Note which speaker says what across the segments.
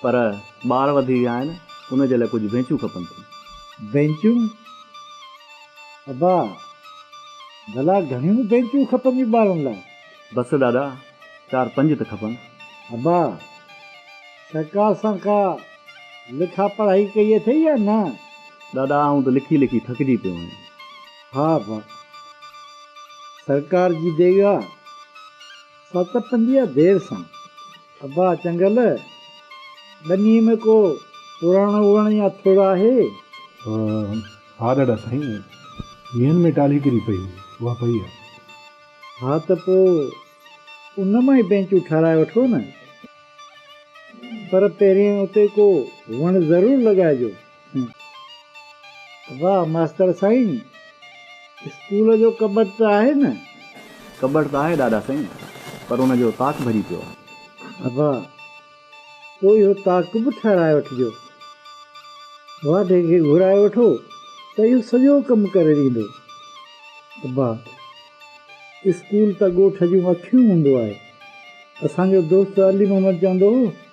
Speaker 1: پر ٻار وڌي ويا آهن، ان جي لاء ڪجهه بينچون کپن ٿيون. بينچون؟
Speaker 2: ابا، ڀلا گهڻيون بينچون کپنديون ٻارن لاء؟ بس ڏاڏا،
Speaker 1: چار پنج ته کپن. ابا،
Speaker 2: سرڪار سان ڪا لکا پڙهائي ڪئي اٿئي يا نه؟ ڏاڏا، آئون
Speaker 1: ته لکي لکي ٿڪجي پيو آهيان. ها ابا،
Speaker 2: سرڪار جي دير آ، سا ته پندي آ دير سان. ابا چنگل، ٻنيء ۾ ڪو پراڻو وڻ يا ٿڙ آهي؟
Speaker 3: ها ڏاڏا سائين، ويهن ۾ ٽالهي ڪري پئي هئي، اها پئي آهي. ها ته
Speaker 2: پوء ان مان ئي بينچون ٺهرائي وٺو نه. پر پهرين اتي ڪو وڻ ضرور لڳائجو. واه ماستر سائين اسڪول جو ڪٻٽ ته آهي نه. ڪٻٽ
Speaker 1: ته آهي ڏاڏا سائين پر ان جو تاڪ ڀري پيو آهي. ابا
Speaker 2: پوء اهو تاڪ به ٺهرائي وٺجو. واڍي کي گهرائي وٺو ته اهو سڄو ڪم ڪري ڏيندو. ابا اسڪول ته ڳوٺ جون اکيون هوندو آهي. اسان جو دوست علي محمد چوندو هو.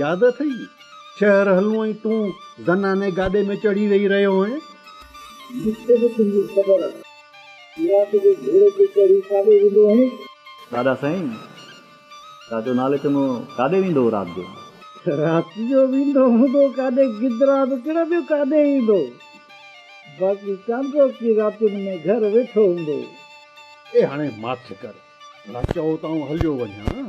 Speaker 4: ياد اٿئي، شهر هلون ۽ تون زناني گاڏي ۾ چڙهي ويهي رهيو هئين. جتي به تنهنجي خبر
Speaker 2: آهي. رات جو گهوڙي تي چڙهي ڪاڏي ويندو هئين؟ ڏاڏا سائين،
Speaker 1: چاچو نالي چڱو، ڪاڏي ويندو هو رات جو؟ رات
Speaker 2: جو ويندو هوندو ڪاڏي، گدرا به ڪهڙا ٻيو ڪاڏي ايندو؟ باقي چانڊرو ڪي راتين ۾ گهر ويٺو هوندو. اي هاڻي
Speaker 4: ماٺ ڪر، ڀلا چئو ته آئون هليو وڃان.